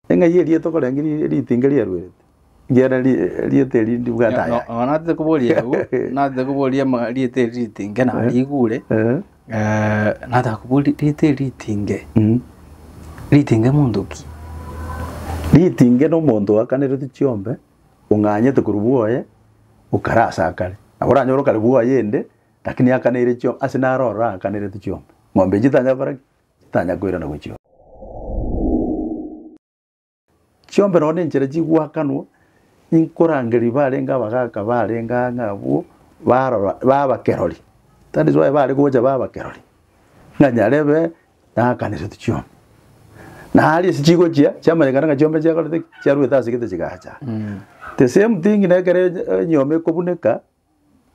Eng'ai eria tokorenge ri- ritinga riaruerete, ekiagera ri- rieta eri ndibwate aya. Nonya natete koboria agwo, natete koboria ama- rieta eri ritinge narigure, Eh, eh, nataka koboria rieta eri ritinge, mm. ritinge monto ki? ritinge nomonto oakaneretwe chiombe ong'anyete korwa bwoye okare ase akare nabo oranyore okare bwoye ende lakini akaneire chio ase naro ororo akanerete chiombe ng'ombe enche tanyara gokora ki titanya koirana gochia oo. Chiombera oo nenchera chigwakanwo, inkorangeria barenge abagaka barenge aa ng'a abwo barora ba abakerori. That is why bare gocha ba abakerori, ng'a nyarebe nakaneretu chionsi. Na aria ase chigochia, chiamanyekana ng'a chiombe chiakorete ki? chiarwete ase egete chigacha. The same thing na ekero enyiomi ekobuneka,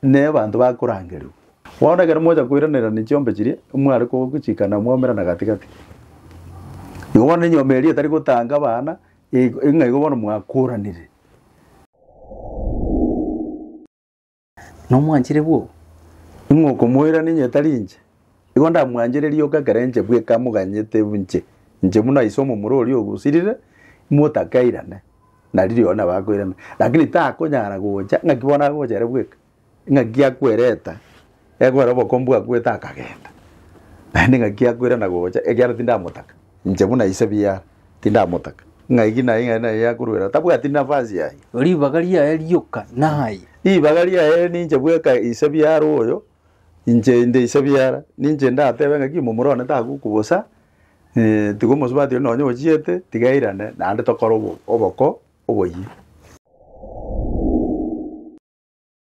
ne abanto bakorangerigwa. Bono ekero mocha koiranerania chiombe chiria, mware kogochikana mwaumerana gati-gati. Igo bono enyomba eria etari gotanga abana, ig- ng'a igo bono mwakoranire. Nomwanchire bwoo, ing'okomoirania onye tari inche. Igo ndamwanchererie oka ekero inche bweka moganyete inche, inche buna ise omomura oria ogosirire, motakeirane, na riria oyo nabo akoirana. Lakini takonyara gocha, ng'aki bono agocha ere bweka? Ng'aki akwereta, ekwera obokombu bwakwete akagenda. Naende ng'aki akoirana gocha, ekiagera tindamotaka, inche buna ise biara, tindamotaka. Ng'aki naye ng'a naye akorwera, tabwati nafasi yaye. Ribaga riaye rioka naye. Ribaga riaye ninche bweka ise biara oyo, inche inde ise biara, ninche ndatebe ng'aki momorone tagoku bosa, tiga omosubati oria nonye ochiete, tiga airane, naende tokore obo- oboko oboyia.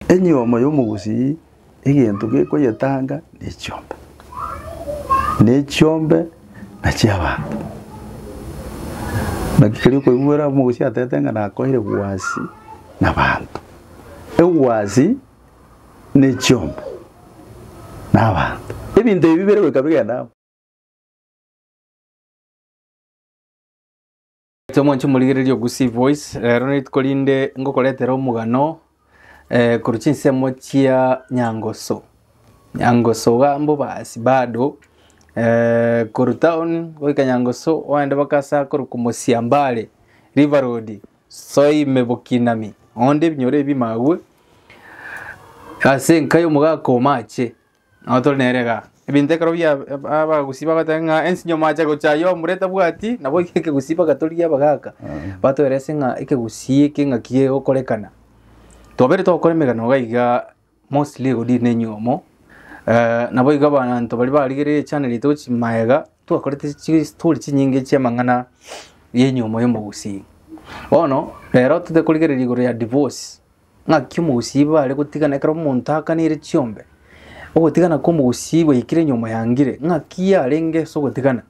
Enyomo y'omogusii egento gekoyetanga nechiombe, na echiombe na chi'abanto. Naki kerio okoigwera omogusii atete ng'a nakoeire egwasi na abanto, egwasi. ne chiombe, na abanto. Ebinto ebi bire goika bigenda amo. Gocha mwanche morigererie Ogusii Voice, rero nerituko rinde ngokoretera omogano eh, korwa chinsemo chia Nyangoso. Nyangoso iga mbobasi bado eh, korwa town goika Nyangoso oende mpaka ase akorokwa Mosiambare, River Road. Soime bokinami, onde ebinyoro ebi magwe ase enka y'omogaka omache, nabo tore nere iga. Ebinto ekero bia abagusii bagoteba ng'a ensinyo yomache gocha ayio omura etabwati, nabo ekegusii bagatorigia abagaka, batoerese ng'a ekegusii eke ng'aki gegokorekana. Twabere togokora emegano iga igaa. Mostly rigodiri nenyiomo eh, naboigo abanto baria barigereire echannel ito gochi maega twakorete chistory chinyinge chiamang'ana yenyiomo yomogusii bono rero tote korigereria igoro ya divorce ng'aki omogusii bare gotigana ekero omonto akanire chiombe ogotigana kwa omogusii gwaikire nyiomo yangire ng'aki yarenge ase ogotigana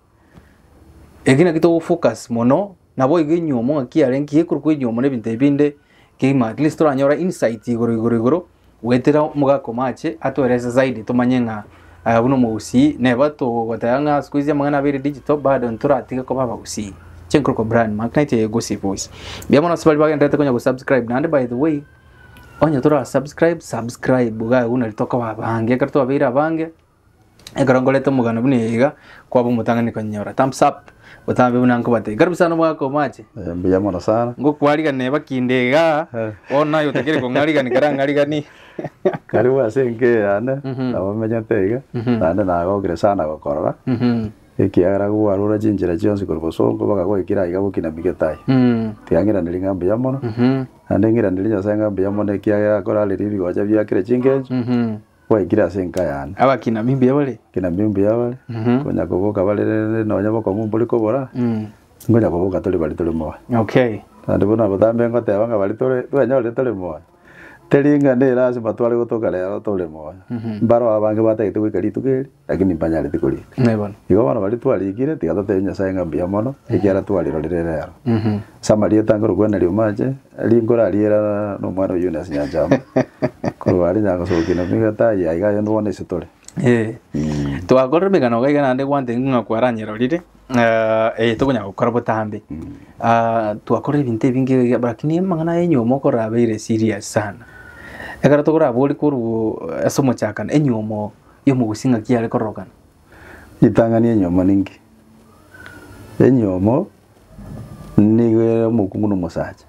eki naki togofocus mono Naboigo enyiomo ng'aki yarenge gekorokwa enyiomo nebinto ebi binde kegima at least toranyore insight igoro igoro igoro goetera omogaka omache atoeleze zaidi tomanye ng'a eh, buna omogusii neba togoteba ng'a siku hizi amang'ana abere digital bado ntoratige koba abagusii chenkorokwa brand mark naitwe egosipa boys mbuya mono ase bari bagenderete konya gosubscribe naende by the way onye tora subscribe subscribe iga agwo nari tokoba abange ekero twabeire abange Ekero nkorete omogano buna eye iga, kwaba omotang'ani konyinyora. Thumbs up. Botambe buna nkobatebia. Karibu sana omwaka omoache. Eh, mbuya mono sana. Ngokwariganire bakinde igaa. Eh. Bono aye otakeire kong'arigani karang'arigani. Karibu ase enka eye yane, Mhm. nabo omenyete iga, Mhm. naende nagokire sana gokorora, Mhm. ekiagera kogwarure chinchera chionsi korwa bosongo mpaka goikire aiga gokina migetai. Mm. Tiga ng'iraneri ng'a mbuya mono, Mhm. naende ng'iraneri Nyasae ng'a mbuya mono ekiagera akorareri ebigocha biakire chingencho, Mhm. Gwaikire ase enka yane. Abakina mimbuya bare. Abakina mimbuya bare. Mhm. Konya koboka bare rende nonya bokong'u mbore kobora. Mhm. Ngonya koboka tore bare tore moyo. Okay. Naende bono abatambe ngoteba ng'a bare tore twenyorire tore moyo. Teri ng'a ne lazima tware gotoka rero tore moyo. Mhm. Mbaro abange batagete goika rituko eri. Lakini mpanyareti korika. Naye bono. Igo bono baria twarikire tiga totebie Nyasaye ng'a mbuya mono, ekiagera twarirorire reero. Ase amaria etangore okwana riuma ache, rinkoro ariera nomwana o Eunice Nyanchama. Korwa aria nyagosokia na nigo etaai yaye iga aye onde bono ase tore. Eh. Twakorire emegano iga iga naende gwantebi ng'a kwaranyerorire, eh, eye tokonyara gokora botambe. Ah, twakorire ebinto ebinge iga iga lakini amang'ana ya enyiomo okorabeire serious sana. Ekero tokorabori korwa ase omochakano, enyiomo y'omogusi ng'aki yare kororokana. Ritang'ani enyomo ninki? Enyomo nigo ere omokungu na omosacha.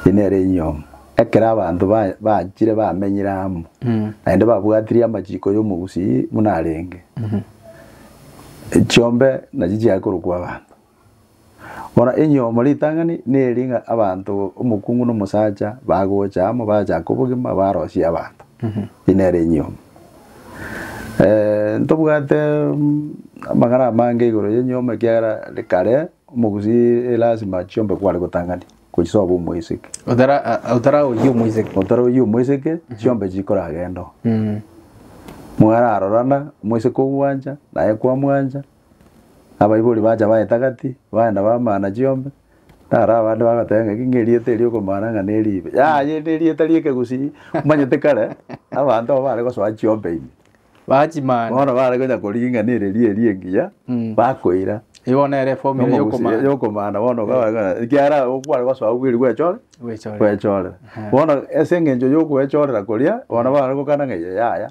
Eye nere enyomo. Ekero abanto ba- bachire bamenyire amo, naende babwatirie amachiko y'omogusi buna arenge, chiombe nachi chiaye korokwa abanto. Bono enyomo ritang'ani neri ng'a abanto omokungu na omosacha bagocha amo bachake obogima barosie abanto. Eri nere enyomo. Eh, ntobwate mm, amang'ana amange igoro y'enyomo ekiagera kare omogusii elasima chiombe kware gotang'ani gochia soba omoiseke. Otara a- otara oyio moiseke. Otara oyio omoiseke chiombe chikoragenda oo. Mwararorana omoiseke ogwancha naye kwamwancha Abaibori bacha baetagati, baenda bamana chiombe. Naro abande bagoteba ng'a eki ng'erieta eri okomana ng'a neribe. Yaya eri nerieta ri'ekegusii, omanyete kare, abanto aba bare gosoa chiombe ime. Bachimana. Bono bare konya korigia ng'a nere eria eria engiya, Mm. bakoira. Eye bono nere eformula ya Omogusii okomana. y'okomana bono bakaba ng'a ekiagera okware gosoa obwiri gwechore, Gwechorera. gwechorera. Aha. Bono ase eng'encho y'ogwechorera koria, bono bare gokana ng'a yaya,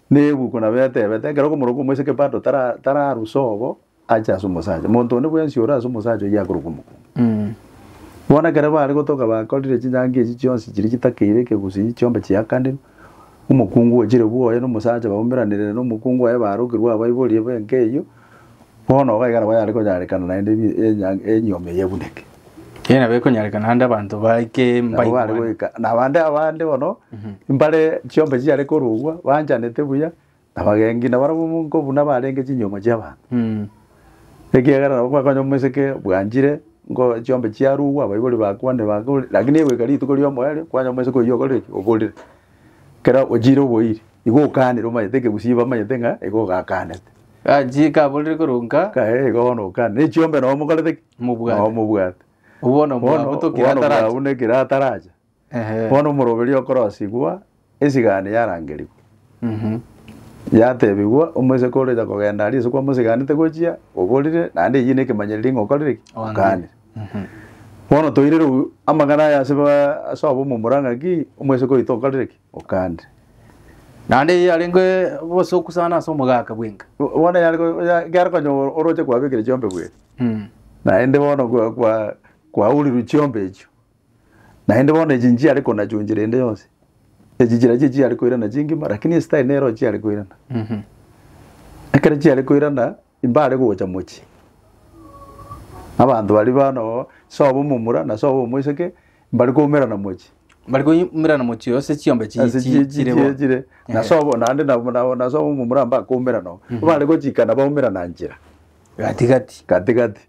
Nebuku nabo etebete, ekero okomorokwo omoa ase ekepato tara tararusa obo ache ase omosacha, monto onde bwensi ore ase omosacha oyio akorokwa omokungu. Bono ekero bare gotoka bakorire chinyangi echi chionsi chiria chitakeire ekegusii chiombe chiakanire, omokungu ochire bwoye na omosacha baumeranire na omokungu oye barokirwe abaiborie benka eyio, Bono gaiga nabo yare konyarekana naende ebi- enya- enyioma eye ebuneke. Erio nabo ekonyarekana ande abanto baike Nabo bare mbaigwane. goika na bande abande bono mbare chiombe chiare korogwa banchanete buya na bagengi na barabwo monko buna barenge chinyoma chi'abanto Mm. ekiagera nabo kwakonywa omoseke bwanchire nko chiombe chiarogwa abaibori bakwane bakore lakini egoika rituko riomoyo erio kwanywa omoseke oyio okorire ki oborire kera ochiire oboiri igo okanire omanyete ekegusii bamanyete ng'a igo ogakanete. Gachie kaborire korwa nka. Kae bono nka. Ne chiombe nao mokorete ki? Mobwate. Nao mobwate. Bono mwabo tokire ataracha. Bono mwabo nekire ataracha. Bono omoroberio okorosigwa, esigani yarangerigwa. Yatebigwa omoseke ore ocha kogenda aria ase kwamosiganete gochia, oborire naende eyio nekemanyererio ng'a okorire ki? Oganire. Bono toire rogwe amang'ana aya ase abamomura ng'a ki? Omoseke oito okorire ki? Okande. Naende eye yarenge obosoku sana ase omogaka bwenka. Bono yare ko- ya- yare konya o- oroche kwabekire chiombe bweka Mm. naende bono kwa- kwa- kwauriru chiombe echio naende bono echi nchiare konachunchera ende yonsi echi chira chie chiare koirana chingima lakini esitari nero chiare koirana Mhm. ekero chiare koirana Mbare gocha mochie. Abanto baria bono, sobo omomura na sobo omoiseke, mbare koumerana mochie. Mbare koumerana mochie ase chiombe chi- Ase chi- chi- chire chire bono. chire. Na Ehe. sobo naende na- na- na sobo omomura mbare koumerana oo. Mbare gochikana baumerana nchera Gatigati. gatigati.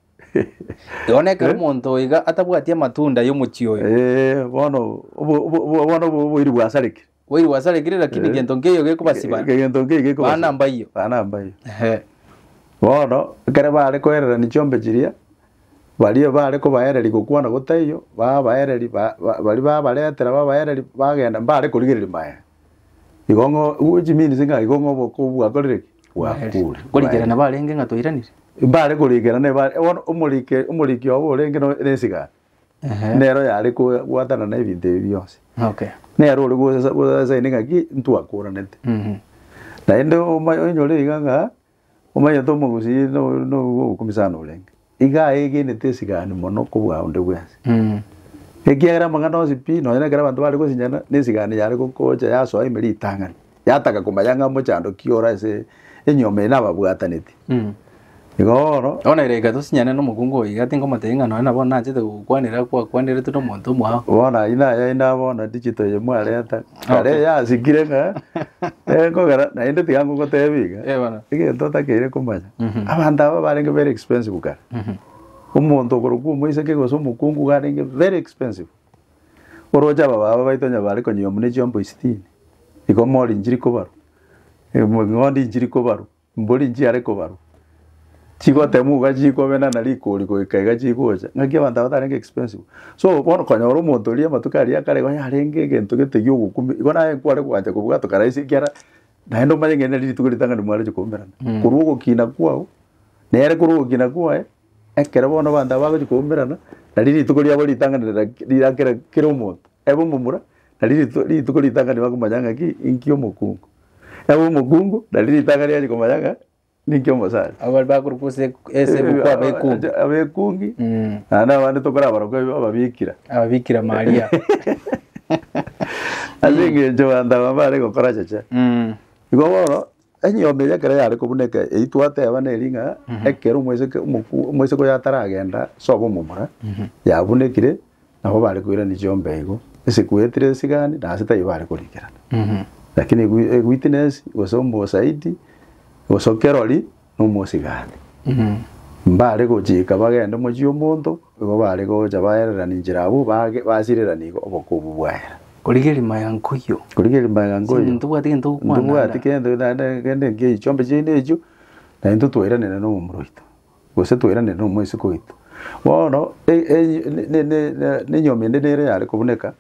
Bono ekero Eh? omonto oo iga atabwati amatunda y'omochie oyo. Eh, bono obo- obo- obo- bono obo- oboiri bwasarekire. Kweli gwasarekire lakini Eh. gento nkeyo gekobasiba. egento nkeyo gekoba Bana mbayio. bana mbayio Ehe. bono ekere bare koererania chiombe chiria baria bare kobaereria gokwana gotaiyo babaereria ba- ba- baria babaretera babaereria bagenda mbare korigereria maega igo ng'o which means ng'a igo ng'o obokong'u bwakorire ki bwakure Korigerana barenge ng'a twairanire. mbare korigerana ebare bono omorike omoriki obo orenge no- nesigara Ehe. nero yare ko- gwatana na ebinto ebi bionsi Okay. nere ore gosa- gosaini ng'aki ntwakoranete Mhm. naende oma- onyore iga ng'a omanyete omogusii no- no- obokumi sana orenge iga aegenete esigani mono kobua onde bwensi Mhm. ekiagera amang'ana onsi pi nonye na ekero abanto bare gosinyana na esigani yare gokocha yasoa ime ritang'ani yataka komanya ng'a omochandoki ore ase enyomba eye nababwataneti. Mm. Igo bono Bono ere reka tosinyane nomokungu oyo iga tinkomotebia ng'a nonye nabono nanchete gokwanera kwakwaneretwe nomonto omwao. bono ayio naye inde bono digital eye mwareta kare Okay. yasikire ng'a eh, nkogera naende tiga ngogotebia iga Eh, bono. egento otakeire komanya Mhm. abanto aba barenge very expensive kare Mhm. omonto okorokwa omoiseke gose omokungu iga arenge very expensive Oroche ababaaba baito onye bare konyigwa buna echiomba isitini, igomori inchiri kobarwa, eng'ondi inchiri kobarwa, embori nchiare kobarwa, chigotemwa iga chikobenana rikori goika iga chigocha, naki abanto aba tarenge expensive. So bono okonyora omonto oria amatuko aria akare iga yarenge egento gete gi'ogokumia, igo naye kware goancha kobwatwa karaisi ekiara naende omanye ng'a eri nari rituko ritang'ani mwarenge koumerana. Korwa ogokina kwao, nere korwa ogokina kwaye, Ekero bono abanto aba bagochia koumerana, nari rituko riabo ritang'ani rira rira kera kera omonto ebe omomura, nari rituko rituko ritang'ani bakomanya ng'aki inki omokungu. Ebe omokungu nari ritang'ani riaye rikomanya ng'a ninki omosani. Abo baria bakorokwa ase eku- ase ebuku abekungi. Abekungi, Mm. naende abande tokorabarokwa ebi ababikira. Ababikira Maria. Ase eng'encho abanto aba mbare gokora cheche. Mm. Igo bono. Enyiomi eye ekero yare kobuneka eyio twateba nere ng'a ekero omoiseke omoku- omoiseke oyo ataragenda sobo omomura yabunekire nabo bare koirania chiombe igo ase kwetire esigani na ase taiyo bare korikerana lakini ewi- ewitness gose omosaidi gose okerori na omosigani mbare gochika bagende mochie omonto. Igo baare gocha baererana inchera abwo baage basirerana igo obokuubu bwaera. Origerie maya nkoyio. Origerie maya nkoyio. Sindi ntobwati gento gokwana. Ntobwati gento naende kende nkiya chiombe chiaino echio, na intwe twairanire nomomura oito, gose twairanire nomwesiko oito. Bono nenyomende nere yare kobuneka,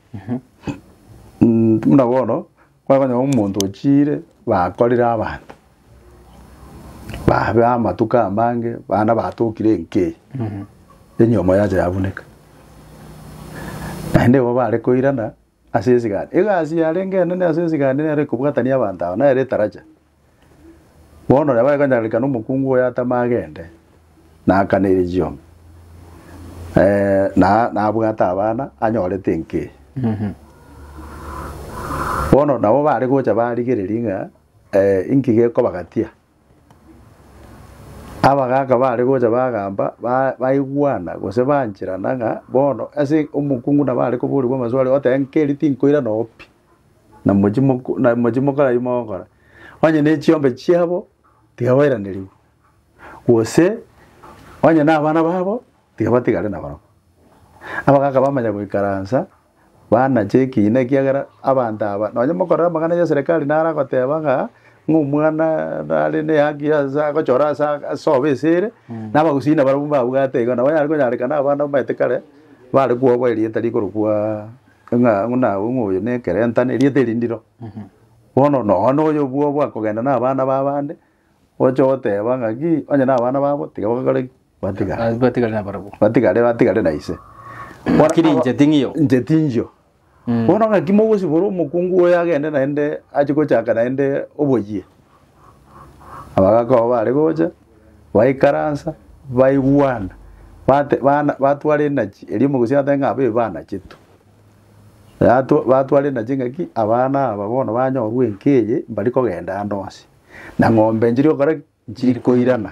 buna bono Kwakonyora omonto ochiire bakorire abanto babe amatuko amange bande batokire enkei enyomo yacha yabuneka naende igo bare koirana ase esigari egasi yarenge enene ase esigari nero ekobwatania abanto aba nero etaracha. Bono nabo agakanyarareka nomokungu oye atame agende, na akane eria chioma, eh, na nabwate abana anyorete enkei. Bono nabo bare gocha barigereria ng'a eh, inki gekobagatia. Abagaka bare gocha bagamba ba- baigwana gose bancherana ng'a bono ase omokungu nabo are koborigwa amaswali oteba nkeri tinkoirana oo pi. na mochie moko- na mochie mokore ayio mogokora, onye ne chiombe chiabo tiga bairanerigwe, gose onye na abana babo tiga batigare nabarabwo. Abagaka bamanya goikaransa, banache ekiina ekiagera abanto aba, nonye mokorora amang'ana ya eserekari naro agoteba ng'a ng'a omwana nare ne haki ase agochora ase aa- ase sobo ase ere, na abagusii nabarabwo mbabwate iga, nabo onyare konyarekana abana omanyete kare, bare kwoboa erieta rikorokwa. Ng'a nawe ng'a oyo nekerenta na erieta erindiro. Bono nonya na oyo bwo bwakogenda na abana ba abande, oche goteba ng'aki onye na abana babo tiga bagakore ki? Batigare. Ah, batigare nabarabwo Batigare batigare na ise. Bakiri inche ting'io. Inche ting'io. Bono ng'aki mogosibora omokungu oyo agende naende ache gochaka naende oboyie? Abagakoa baare gocha, baikaransa, baigwana, bate bana batwara enachi erio omogosi agateba ng'a abe banachetu. Yatwa batwara enachi engaki, abana aba bono banyorwa enka eye, mbari kogenda ande onsi, na ng'ombe nchiri gokora ki? Nchiri koirana.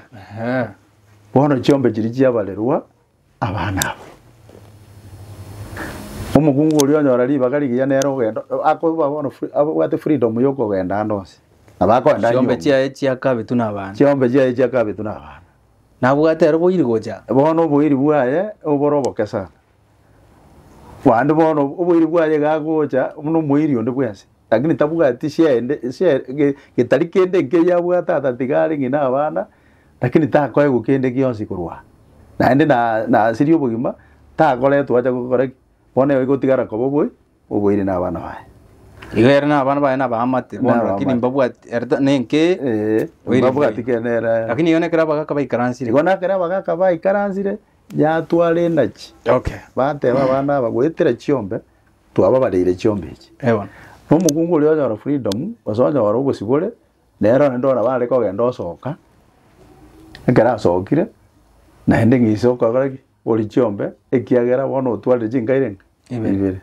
Bono chiombe chiria chiabarerwa. abana abo. Omokungu oria onyora ribaga rigiya nere ogenda akoba bono fri- abwate freedom yokogenda ande onsi na bakoenda Chiombe nyomba. chiaye chiakabetu n'abaana. chiombe chiaye chiakabetu na abana Nabwate ero boiri gocha. bono oboiri bwaye obore oboke sana bande bono oboiri bwaye iga agocha buna omoiri onde bwensi Lakini tabwati shende, she, ge- getari kende nkeyia abwate ata tiga are ng'ina abana, lakini takoegwa kende gionsi korwa aa. Naende na- nasirie obogima, takoretwa acha gokora ki? Bono ego egotigara koba obobe, oboiri na abana baye. Igo ere na abana baye nabaamate bono, Nabaamate. lakini mbabwati ere ta- nenkeye, Ee, Oiri mbabwati mbuya. kende ere. lakini igo nekero abagaka baikaransire. Igo nakere abagaka baikaransire, yatwara enachi. Okay. Bateba abana aba, goetera chiombe, Twababareire chiombe echi. Ewan. Na omokungu oria onyora freedom, gose onyora obosibore, nere onde oraba are kogenda osoka, ekero asokire, naende ng'ise okora ki? Ori chiombe, ekiagera bono otwarire chinkaire ng'a? Ibere.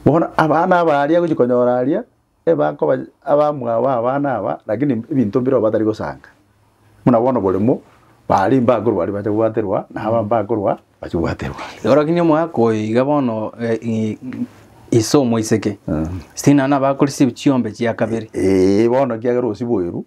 Bono abana aba aria agochi konyora aria, Bakoba abamwabo abana aba, lakini ebinto mbireo batari gosanka. Buna bono oboremo, baria mbakorwa baria bacha gwaterwa, na aba mbakorwa bacha gwaterwa. Orokinye omwaka oyo iga bono eh, i- ise omoiseke sinana abakore si- chiombe chia kabere Ee, bono kiagera osiboirwe,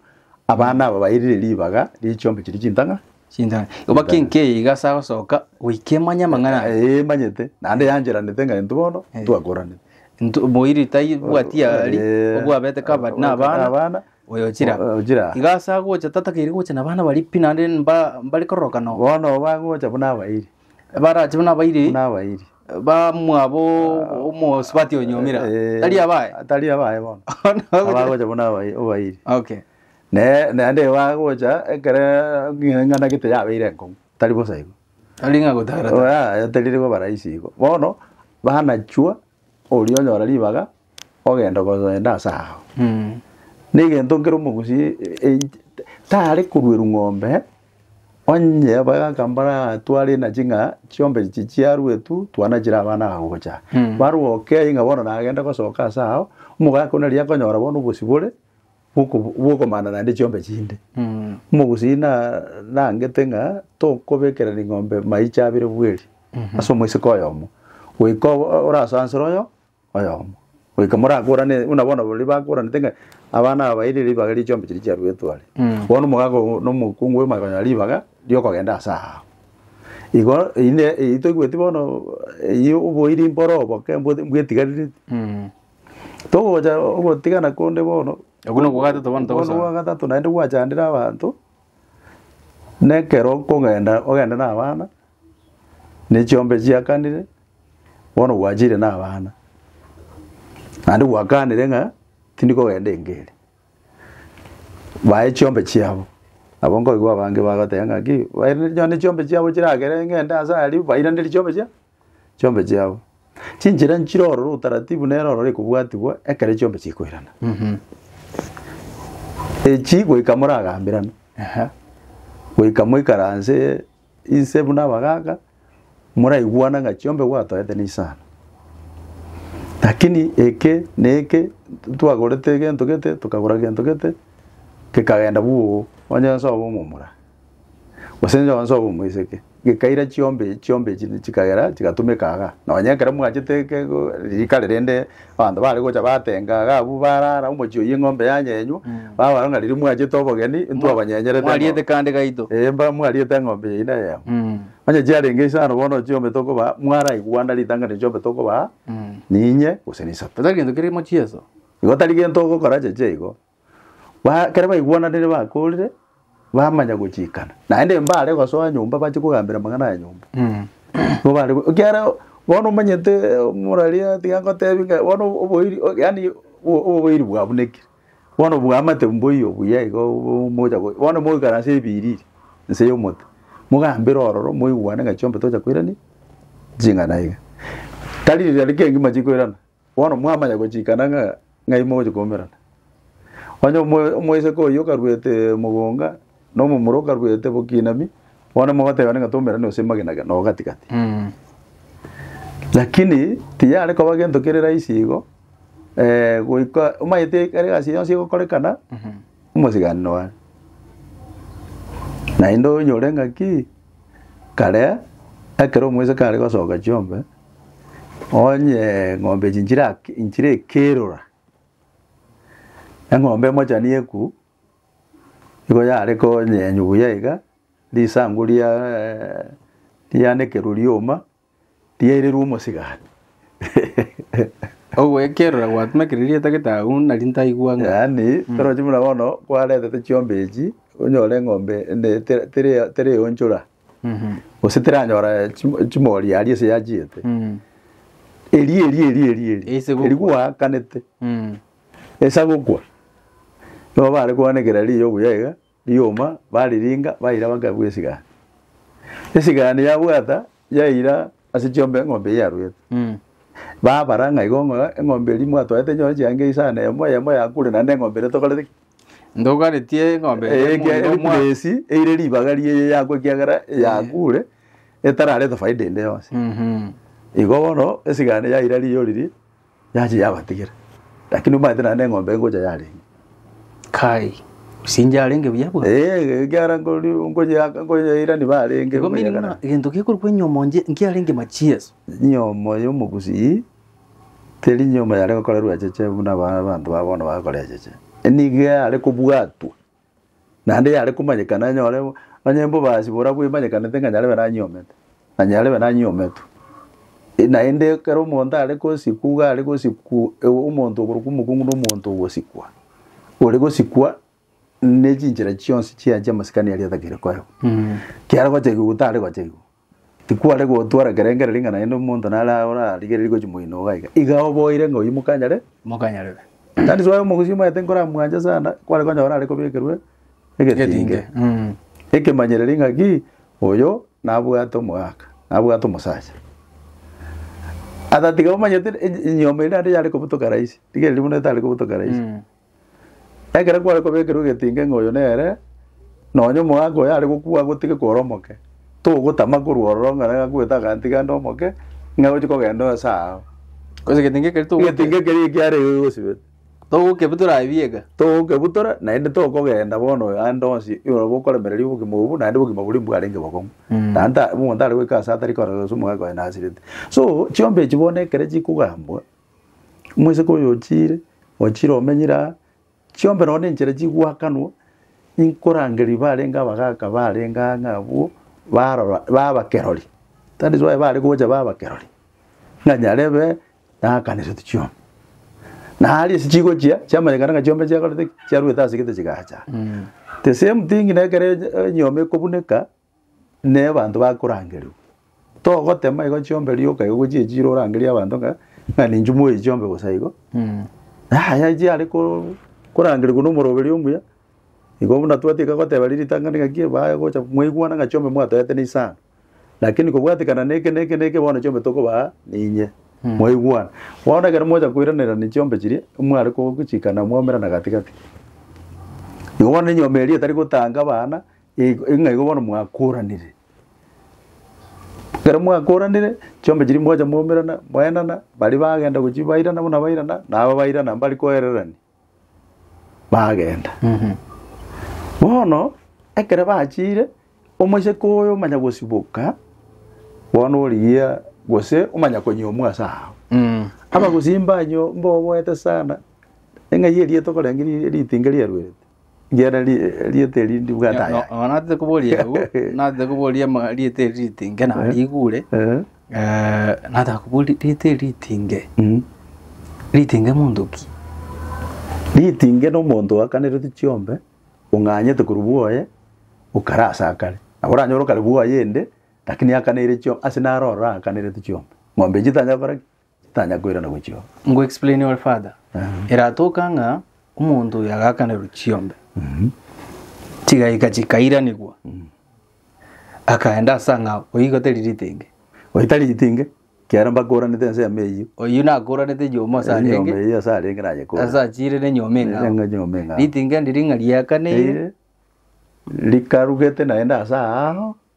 abana aba bairire ribaga rie chiombe chiria chintang'a, Chintang'ani. Igo bakinke iga ase agosoka goika emanye amang'ana aya. Eh, emanyete naende yancheranete ng'a intwe bono Eh. twakoranire Ntu- Moiri taibwati yari Eh, obwabete kaba abwate na abana abana, oyo ochira. o- ochira. Iga ase agocha tatakeire gocha na abana baria pi naende mba- mbare kororoka nao. bono bagocha buna abairi Barache buna abairi buna abairi bamwabo omosubati onyomire. Eh, Tari abaye. tari abaye bono Bono- abagocha buna abai- abairi Okay. Ne, naende igo agocha ekere eng'ana gete yabeire enkong'u, tari bosa igo. Tari ng'a gotara ta. Oya, teriri koba rahisi igo. Bono, banachwa, oria onyora ribaga, ogenda koenda ase ao. Mm. Negento nkere omogusii e- tare korueru ng'ombe, onye bagaka mbaratware enachi ng'a chiombe echi chiaruetu, twana chire abana aba gocha aa. Mm. Barwa okei ng'a bono nagende gosoka ase ao, omogaka oyio nari akonyora bono obosibore, bw'okomana naende chiombe chinde. Omogusii nangete ng'a tokobekera ring'ombe maiche abere bweri ase omoiseke oyomo, goika orasansere oyomo, goika morakorane buna bono baria bakoranete ng'a abana aba ere ribaga rie chiombe chiria chiaruetwe are. Bono omogaka oyo na omokungu oyo omanye konyora ribaga riokogenda ase ao. Igo eyio toigweti bono eyio oboiri mboro oboke mbwetigarireti. Togocha ogotigana konde bono. Okwo nokwo gwa gatato bono Okwo nokwo gwa togosaba. gatato naende gwachandire abanto, na ekero okogenda ogende na abana, ne chiombe chiakanire, bono gwachire na abana. Naende gwakanire ng'a tindi kogenda enka ere. Bae chiombe chiabo, nabo nkoigwa abange bagoteba ng'aki, bairaneria nonya chiombe chiabo chiragere ng'ende ase aria, bairaneria chiombe chiabo. chiombe chiabo. Chinchera nchire ororo utaratibu nere ororo ekobwatigwa ekero chiombe chikoirana. Echi goika moragambirane, goika moikaranse inse buna abagaaka, moraigwana ng'a chiombe gwatoete ne isano. Lakini eke na eke twagorete egento gete, tokagora gento gete, kekagenda bwogo, onye nsoe omomura. Gose inche onsoe omoiseke. Gekaira chiombe chiombe echi chikagera chigatumeka iga. Nonye ekero mwachete ke go rika ri rende abanto bare gocha batenga iga abwo barara omochie oyio eng'ombe yanyenywa, babara ng'a riria mwachete obogeni intwe abanyenyereete eng'o- Mwariete kande gaito. Ee mba mwariete eng'ombe eyio neye yamo. Mm. Onye chiarenge isano bono chiombe tokobaa mwaraigwana ritang'ani chiombe tokobaa ninye gose nisato. Gose tari gento keria mochieso. Igo tari gento ogokora cheche igo. ekero baigwananire bakorire, bamanya gochikana. Naende mbare gosoa nyomba bache kogambera amang'ana a nyomba. Nigo bare go- ekiagera bono omanyete moraria tiga ngotebie ng'a bono oboiri o- yaani o- oboiri bwabunekire. Bono bwamate mboiyo buya iga obo mocha go bono moikare ase ebiiriri nse ya omote, mogambere ororo moigwane ng'a chiombe tocha koirania ching'ana iga. Tari riria rike ngima chikoirana. Bono mwamanya gochikana ng'a ng'ai mogochia koumerana. Onye omo- omoiseke oyio okaruete mogonga, na omomura okaruete bokinami, bono mogoteebana ng'a toumerane gose magena gena oo gati gati. Lakini tiyare koba gento kere rahisi igo, goika omanyete ekero egasi eyio yonsi egokorekana, omosiganano one. Naende onyore ng'aki, kare ekero omoiseke are gosoka chiombe. Onye eng'ombe echi nchirake nchirekerora, eng'ombe emochani eku, nigo yare konyenywa buya iga, risangu ria rianekerwe rioma, riairerwe omosigati. Ogoekerora gwatumekereire riatagete agwo nari ntaigwa ng'a. Yaani, torochi buna bono, kwaretete chiombee echi, onyore eng'ombe ende tere tere tere onchora. Gose teranyora chim- chimori aria ase yachiete. Eri eri eri eri eri. Ase gokwa. Eri gwaakanete. Esa gokwa. Nigo bare koanekera riiya obuya iga, rioma, bariringa, baira bakabua esigani. Esigani yabwata, yaira ase chiomba eng'ombe eyio yarwete. Babara ng'a igo ng'a eng'ombe eria mwatwaete nyore chianga isano eyemo eyemo yakure naende eng'ombe eria tokorete ki? Ndogaretie eng'ombe eye Eye ekiagera omwonyi omwa- ekuresi eire ribaga ri'eye yakwa ekiagera yakure etararete faida ende yonsi. Mhm. Igo bono esigane yaira riiyo riria yachia yabatigera. Lakini omanyete naende eng'ombe engocha yarenge. Kai, osinche arenge buya bwa. Eeh ekiagera nkori nkonya yaka nkonya yairani barenge Igo meri buna egento gekorokwa enyomo nje- nkiarenge machieso. Nyomo y'omogusii. Teri nyomba yare gokorerwa echeche buna aba abanto ba bono bagokora echeche, nigo yare kobwatwa, naende yare komanyekana enyore onye mbobasi boria bwemanyekanete ng'a nyarebe nanyiomete, na nyarebe nanyiometwe. E- naende ekero omonto are gosikwa iga are gosikwa ewu omonto oborokwa omokungu na omonto ogosikwa, ore gosikwa nechinchera chionsi chia chiamasikani aria atakeire koegwa. Kiare gochegigwa gose tare gochegigwa, Tikware gotwara ekerengerio ring'ana rinde omonto nare orarigererie gochia moino iga iga. Iga oboire ng'a oyio mokanyare? Mokanyarere. That is why omogusii omanyete nkoramwanche sana, kware konyora are kobekerwe egetinge. Egetinge, mm. Ekemanyereri ng'aki, oyo nabwate omogaka, nabwate omosacha. Ata tiga omanyete e- e- enyiomi eri naende yare kobutoka rahisi, rigereria buna etare kobutoka rahisi. Ekero kware kobekerwa egetinga ng'a oyo nere, nonya omogaka oyo are gokwa agotige kore omoke, togotama korwa ororo ng'a naye akwete agantiga ande omoke, ng'a oche kogenda oyo ase aao. Korende egetinga ekeri togo- Egetinga ekeria ekiare iga gigosibete. togokebutora aye bieka. Togokebutora, naende tokogenda bono oyo ande onsi oyo bokoremereria obogima obwo, naende obogima boria mbwarenge bokong'u. Naende ta omonto tari goika ase atari korora gose omogaka oye nasirete. So, chiombe echi bono ekero chikogambwa, Omoseke oyo ochiire, ochiire omenyire aa, chiombe nonye na enchera chigoakanwa, inkorangeria barenge abagaka barenge aa ng'a abwo, barora ba abakerori. That is why bare gocha ba abakerori, ng'a nyarebe nakaneretu chiombe. Na aria ase chigochia, chiamanyekana ng'a chiombe chiakorete ki? chiarwete ase egete chigacha. The same thing na ekero enye- enyiomi ekobuneka. ne abanto bakorangerigwa. Togotema igo chiombe rioka igo gochia echi chire orangerie abanto ng'a ng'a ninchuo moe echi chiombe bosa igo. Yaya chiare ko- korangerigwa na omoroberi omuya, igo buna twati ekagoteba riri ritang'ani ng'aki ebae gocha mwaigwana ng'a chiombe mwatoete ne isano. Lakini kobwatekana na eke na eke na eke bono chiombe tokobaa ninye, mwaigwana. Bono ekero mwacha koiranerania chiombe chiria, mware ko- gochikana mwaumera na gati gati. Igo bono enyiomi eria etari gotanga abana. Igo- Ng'a igo bono mwakoranire, ekero mwakoranire, chiombe chiria mwacha mwaumerana, mwaendana, baria bagenda gochia bairana buna bairana, na aba bairana mbari koererania, bagenda. Bono, ekero bachire, omoiseke oyo omanya gosiboka, bono origia gose omanya konyomwa ase agwo. Abagosimba nywo- mboboete sana, eng'ai eria tokorenge ri- ritinga riaruerete, Riera ri- rieta eri ndibwate aya. No- no- natete koboria agwo natete koboria ma- rieta eri ritinge na rigure Eh, eh, nataka koboria rieta eri ritinge mm. ritinge monto ki ritinge na omonto oakanerete chiombe ong'anyete korwa bwoye okare ase akare nabo oranyore okare bwoye ende lakini akaneire chio ase naro ororo akanerete chiombe ng'ombe echi tanya gokora ki Tanya koirana gochio. Nko explain ore father. Eratoka ng'a omonto oyo agakanerwa chiombe. Chigaika chikairanigwa. Akaenda ase ang'ao. Oyio igo teri ritenge. Oyio tari ritenge. Kiaro mbakoranete ense yamo eyio. Oyio nakoranete nyiomo ase arenge. Nyiomo eyio ase arenge naye kore. Ase achire ne nyiomo eng'ao. Nere nyiomo eng'ao. Ritenge ndiri ng'a riakaneire. Rikarugete naende ase aao.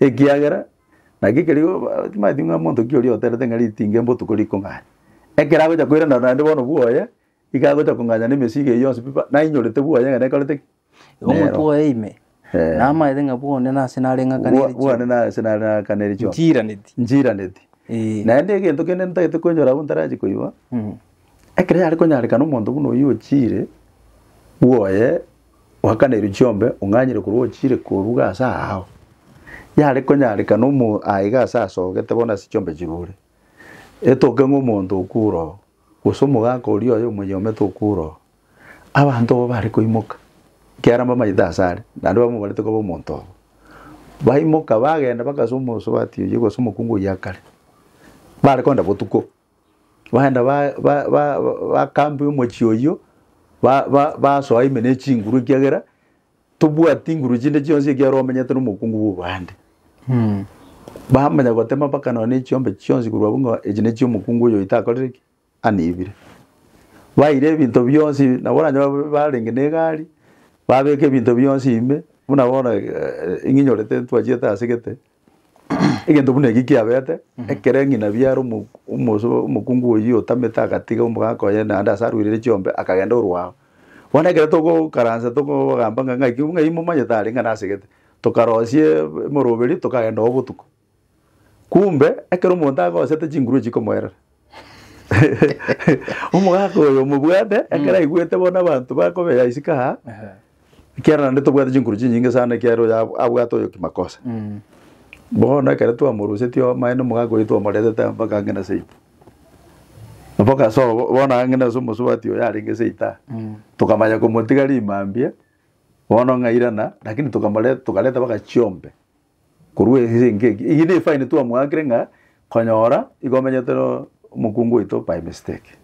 Ekiagera naki ekerio timanyeti ng'a monto ki oria oterete ng'a ritinga embotuko rikong'anya. Ekero agocha koirana naende bono bwoye, iga agocha kong'anya na emesigo eyio yonsi pi pa, nainyorete bwoye ng'a nekorete ki? Igo Nero. omonto oye ime, Eh. namaete ng'a bwone nase nare Bwa- ng'akanere bwane nase nare nagakaneri chionsi. Nchiiraneti. Nchiiraneti. Ee. Naende egento kende ntagete koenchora abwo ntarachi koigwa, Mm. ekero yare konyarekana omonto buna oyio ochiire, bwoye Oakana erio chiombe, ong'anyere korwa ochiire koruga ase aao. Yare konyarekana omo aiga ase asogete bono ase chiombe chirure, etoke ng'a omonto okure oo, gose omogaka oria oye omoyomete okure oo. Abanto abwo bare koimoka, ekiagera mbamanyete ase are, naende bamobarete koba omonto obo. Baimoka bagenda bagasa omosubati oyio gose omokungu oyio akare, bare kogenda botuko. Bagenda ba- ba- ba- bakambia omochie oyio, ba- ba- basoa ime ne chinguru ekiagera tobwati nguru chinde chionsi ekiagera omenyete na omokungu bwa obande. Bamanya gotema mpaka nonya na echiombe chionsi korwa abwo ng'a echi ne chia omokungu oyo oitakorire ki? Aniebire. Baira ebinto bionsi nabo oranyore babe barenge na egari, babeka ebinto bionsi ime, buna bono ng'inyorete ntwachiete ase gete. Egento buna eki kiabete, ekero eng'inabi are omo- omos- omokungu oyio otamete agatiga omogaka oye naende ase arweirire chiombe akagenda orwa ao. Bono ekero togokaransa tokogamba ng'a ng'ai ki ng'ai momanyete are ng'a nasegete, tokarosie emoroberi tokagenda oo botuko. Kumbe, ekero omonto agosete chinguru echi chikomoerera omogaka oyo omobwate ekero aigwete bono abanto bakobeya isiko aa, Ekiagera naende tobwate chinkuru chinyinge sana ekiagera oyo ab- abwate oyo kimakosa. Mm. Bono ekero twamorusetie omobaye na omogaka oito omoretete mpaka ang'e na seita. Mpaka ase obo bono ang'e nase omosubati oyo arenge seita. Mm. Tokamanya komotiga rimambia, bono ng'a irana, lakini tokamore tokareta mpaka chiombe. Korwa ase engaki eke, eyio ne fine twamoakire ng'a konyora igo omenyete no omokungu oito by mistake.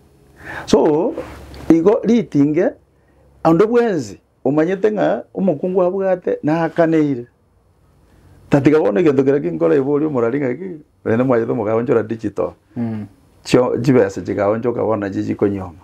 So igo ritinge onde bwensi omanyete ng'a omokungu abwate nakaneire. Tatiga bono egento keria kinkore borie omorwari ng'aki Onye nomwanyato mogaonchora digital, chio chibesa chigaonchoka bono nachio chikonyuoma.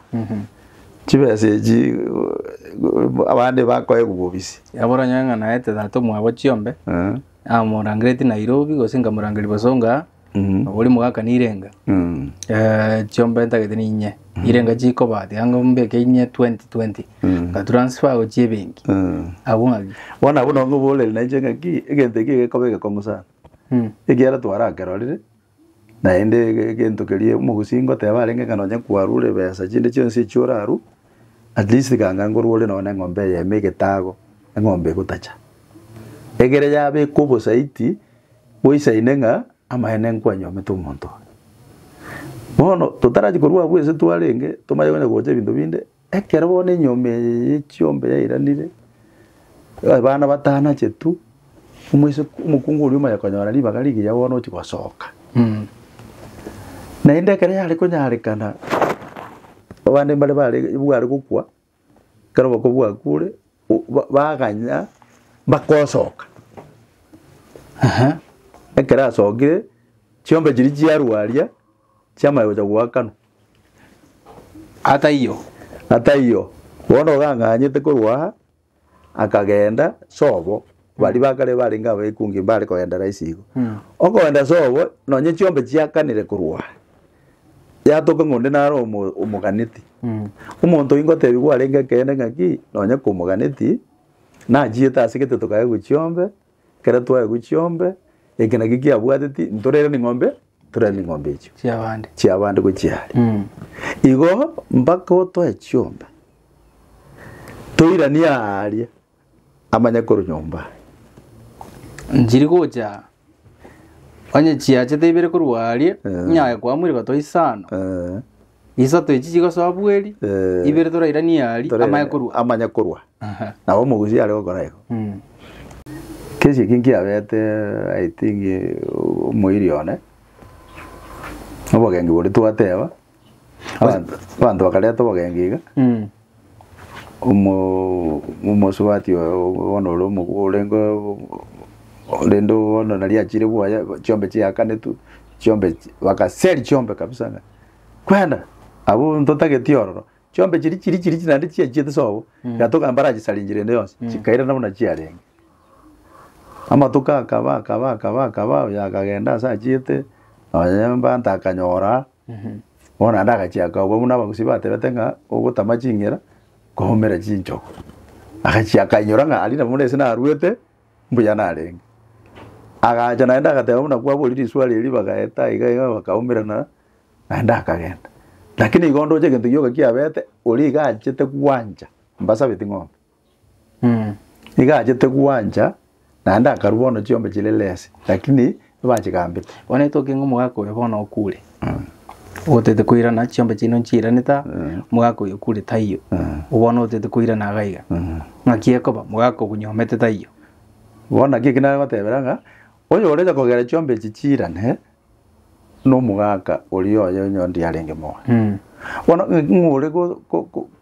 Chibesa echi eh, abande bakoegwa bobisi. Nabo oranyore ng'a naete tata omwabo chiombe, Eh, namorangereti Nairobi gose nkamorangeria Bosongo aa, Mhm. nabo oria mogakana irenga. mm, Eh, chiombe ntagete ninye, irenga chikoba tiga ng'a mbeke inye 2020, Mm. nga transfer gochia ebenki. mm. Abwo ng'aki? Bono abwo nabo ngoborere nainche ng'aki egento eke gekoba egekong'u sana. Mm. ekiagera twarakerorire, naende ege- egento keria omogusi ngoteba arenge ng'a nonye kwarure ebesa chinde chionsi echio orarue, at least ganga ngorwe ore nonye na eng'ombe eyemo egetago, eng'ombe egotacha. Egere yabekwa obosaiti, boisaine ng'a amaene nkwanyomete omonto oyo. Bono totarachi korwa abwo ense twarenge, tomanye konya gocha ebinto binde, Ekero bono enyomba eye y'echiomba yairanire, abana batano ache tu, omoise omokungu oria omaya konyora ribaga rigiya bono ochia gosoka. Naende ekero yare konyarekana, abande mbare bare bware gokwa, ekero oboko bwakure, o- ba- baganya bakosoka. Aha, ekero asokire, chiombe chiria chiarwa aria, chiamanya gocha goakanwa. Ataiyo. Ataiyo, bono gang'anyete korwa aa, akagenda sobo, baria bakare barenge abekungi mbare kogenda raisi igo. Okogenda sobo, nonye chiombe chiakanire korwa aa, yatoka ng'a onde nare omo- omoganeti. Omonto oyio ngotebia kwarenge ekeene ng'aki, nonye komoganeti, nachiete ase egeteto kaye gochia ombe, Ekero twaegwa chiombe, eke nakio kiabwateti, ntorere ning'ombe, ntorere ning'ombe echio chiabande chiabande gochia are. Mm. Igo mpaka otoe chiombe toiranie aaria amanye korwa nyomba aye. nchiri gocha onye chiachete ibere korwa aria Eh. nyaye kwamwire gotwa isano Eh, Isato echi chigosoa bweri, Eh, ibere torairanie aria, tore- amaye korwa. amanye korwa Aha. nabo omogusi are gokora igo Mm. kesi eki nkiabete i think eh, omoiri one obogengi bori twateba abanto abanto bakareta obogengi iga Mm. Omosubati oye bono ore omokwo orenge rende bono nari achire bwoye chiombe chiakanetwe chiombe bagaseria chiombe kabisa ng'a kwenda abwo ntotageti ororo chiombe chiri chiri chiri chiri naende chiachiete sobo eka toka mbarachisaringi rende yonsi chikairana buna chiarenge. Amatuko akaba akaba akaba akaba oyo akagenda ase achiete nonye mbata akanyora. Bono naende agachia akaabua buna abagusii batebete ng'a ogotama chingera kwaumera chinchogu. Agachia akainyora ng'a aria nabo buna ase narwete mbuya narenge. Agacha naende agateba buna kwaboria riswali erio bagaeta iga iga bakaumerana naende akagenda. Lakini igo ndoche egento gioka kiabete oria iga achete gwancha mbasabeti ng'ombe. Nigo achete gwancha, naende akarua bono chiombe chire less, lakini nibachigambete. Bono etoke ng'a omogaka oyo bono okure, otete koirana chiombe chiaino nchiiranete aa, omogaka oyo okure taiyo, obo bono otete koirana iga iga, ng'aki ekoba omogaka okonyomete taiyo. Bono naki eki nagotebera ng'a, oyorenta kogera chiombe echi chiirane, nomogaka oria oye onye onde yarenge moyo. Bono ng'aki ng'ore go- go- go.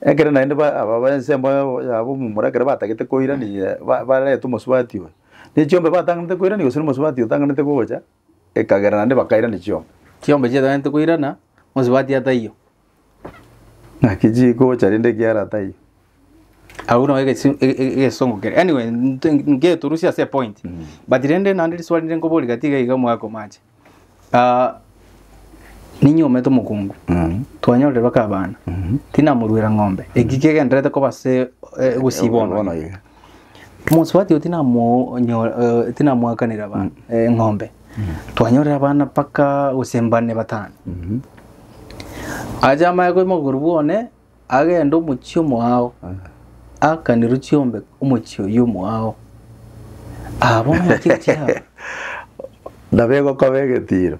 Ekero naende ba- aba b'ensemo yabo yabo omomura ekero batagete koiraneria ba- bareta omosubati oye, ne chiombe batanganete koirania gose na omosubati otanganete gocha, ekagera naende bakairania chiombe. Chiombe chiataganete koirana, omosubati ataiyo. Naki chigocha rende ekiagera ataiyo. Agwo nabo egesi ege- ege- egesongo keria. Anyway, nte- ngeturusie ase epoint, but rende naende riswali rinde nkoboria gati iga iga omwaka omache. Ah, ninye omete omokungu twanyorire baka abana tinamoruera ng'ombe eki kegenderete koba se eh, gosiba Bono ono ye. mosubati oyo tinamo nyo- eh, tinamoakanera abana eh, ng'ombe twanyorire abana mpaka gose mbane batano aja amaye koimoka korwa bwone Agende omochie omoao, akanirwe chiombe omochie oyio omoao, abe omochie chiabo. Nabo egokoba egetiiro,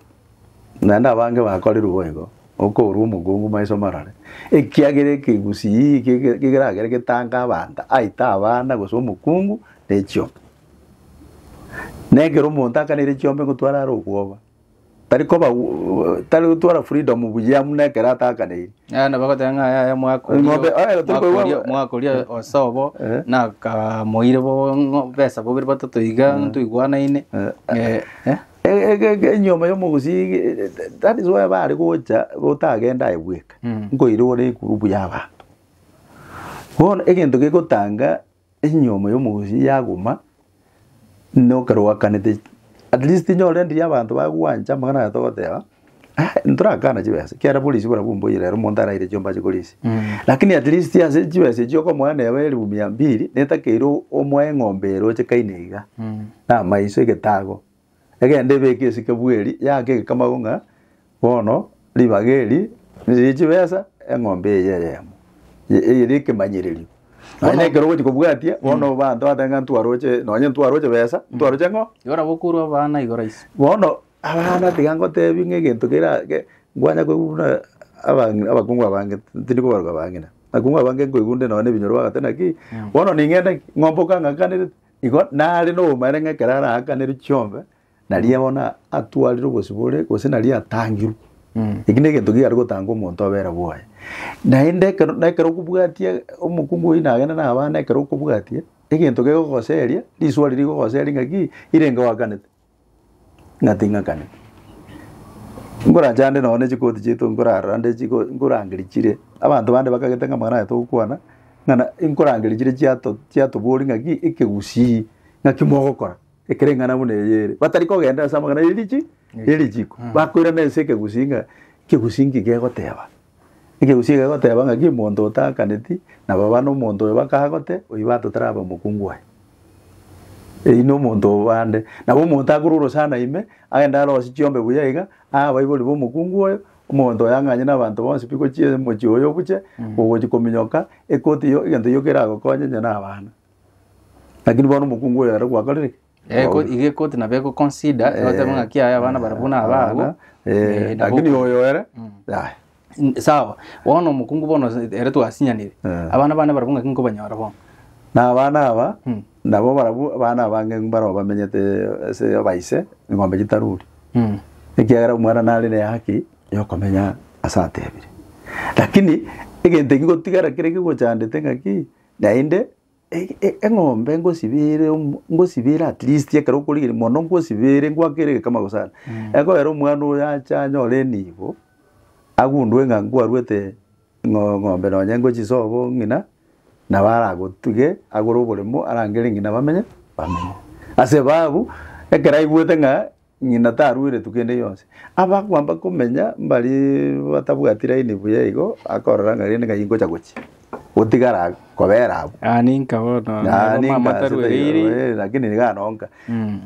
naende abange bakorerwe boigo, okoorwa omokungu maiso marore, ekiagera ekegusii eke eke keragere getange abanto, aite abana gose omokungu ne chiombe. Na ekero omonto akaneire chiombe ngotware are okwoba, Tari koba tari gotwara freedom buya buna ekero atakaneiri. Yaya nabo agoteba ng'a yaya mwakoria Ng'ombe, o- oye, tari koigwa- mwakoria- mwakoria ose obo Eh. nakamoire bo ng'o- besa bobere batato iga ntoigwanaine Eh, eh. E- e- e- enyoma ya omogusii ge- that is why bare gocha gotagenda aye bweka Mm. nkoirigwa na egurubu ya abanto bono egento gegotanga enyiomo y'omogusi yaguma nokero gwakanete at least inyore endiria abanto bagwancha amang'ana aye togoteba ah ntorakana chibesa ekiagera polisi barabwo mboiyo rero omonto araire chiombe ache korisia lakini at least ase chibesa echio okomoa neba elifu mia mbiri netakeire omoe eng'ombe ere oche kaine iga namaiso egetago. Egende ebeke esike bweri, yaake egekamago ng'a bono ribaga eri niriri chibesa, eng'ombe eye eyemo ye- eyere ekemanyererio. Nonye na ekero ogochi kobwatia, bono abanto bateba ng'a ntwaroche, nonye ntwaroche besa, ntwaroche ng'o? Igora bokurwa abana igoro ise. Bono abana tiga ngotebi ng'a egento kera ge nkwanya koigwa buna abang'i abakungu abange tindi kobaruga abang'ina. Abakungu abange nkoigwa nde nonye na ebinyoro bagoteba naki, bono ning'ende ki? Ng'ombe okang'akanerete, Igo nare nobomaene ng'a ekero araakanire chiombe, nario bono atwarire obosibore, gose nario atangirwe. Eki na egento kigare gotanga omonto obera bwaye. Naende ekero na ekero okobwatia omokungu oyio nagende na abana ekero okobwatia, egento kegogoseria, risoa riria rigogoseria ng'aki, ire ngoakanete. Ng'ate ing'akane. Nkorachande nonya ne chikoti chiaito nkorara nde chiko nkorangeria chire, abanto bande bakagete ng'a amang'ana aya togokwana, ng'a na nkorangeria chire chiato chiatoboria ng'aki ekegusii ng'aki mogokora ekere eng'ana buna eye ere. Batari kogenda ase amang'ana ya erichi ya erichiko, bakoirana ase ekegusii ng'a ekegusii nki kegoteba. Ekegusii eke gegoteeba ng'aki omonto otaakaneti, na baba nomonto oyo bakaha gote, oyio batotaraba omokungu aye. Eyio nomonto oo bande. Nabo omonto akore orosana ime, agende aroosie chiombe buya iga, aa abaibori b'omokungu oyo, omonto oyo ang'anye n'abanto bonsi pi gochia omochie oyo obuche, ogochia kominyoka, ekoti eyio, egento gioka eragokonye onye nabana. Lakini bono omokungu oyo ere gwakorire ki? Eh, ko- iga ekoti nabo egoconsider egoteba ng'a kiaya abana barabwo na ababo Abana, eh, eh, nabo- lakini oyo ere yaya N- sawa bono omokungu bono se- ere twasinyanire Eh. abana bane barabwo ng'aki nkobanyora bono na abana aba Mm. nabo barabwo abana abange mbaro bamenyete ase abaise eng'ombe chitaruri Mm. ekiagera omwana nare ne haki yokomenya ase atebire lakini egento ekigotigara kere kigochandete ng'aki naende eng'ombe ngosibeere omo- ngosibeere at least ekero okorigereria mono ngosibeere ngwake ere egekama gosana ekoera omwana oyo ache anyore enibo agundue ng'a nkwarwete ng'o- ng'ombe nonye ngochia ase obo ng'ina nabo aragotige agore oboremo arangere ng'ina bamenye bamenye ase ebabu ekero aigwete ng'a Ng'ina tarueretwe kende gionsi. Abakwa mbakomenya mbari batabwati laini buya igo, akorora ng'a rende ng'ai ngocha gochia, gotigara kobera abwo. Ah, ninka bono. Ah, Omama ninka ase taruereiri. tairoe, eh, lakini niga nonka. Mm.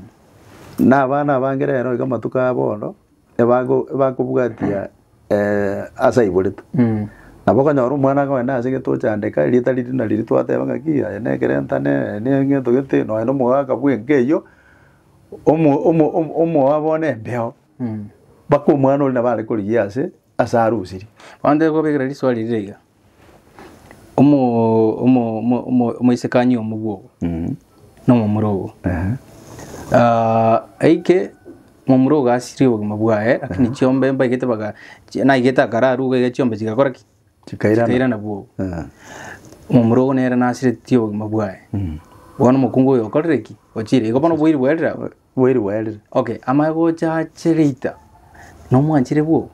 Na abana abange rero iga amatuko aya bono, ebago- ebakobwatia eh, ase aiboretwe. Mm. Nabo okonyora omwana akogenda ase getochandeka, erieta riria nari ritwateba ng'aki, aye nekerentane, aye neng'eto gete, nonya nomogaka bw'enka eyio, omo omo omo omoa bono embeo, mpaka omwana oria nabo are korigia ase ase arosirie. Abanto ekobekera riswali rire iga, omo omo omo omo omoisikani omobua obo Mm. na omomura obo Ehe. Ah, aike momura ogo asirie obogima bwaye lakini chiombe mbaigete baga chi- naigete akararu iga iga chiombe chigakora ki? Chikairana. chikairana bwogo Eh. omomura ogo nere nasiretie obogima bwaye Mm. bono omokungu oyo okorire ki ochire igo bono bwairi bwaerire abwo Bwairi bwaerire. okay amaye gocha ache geita nomwanchire bwogo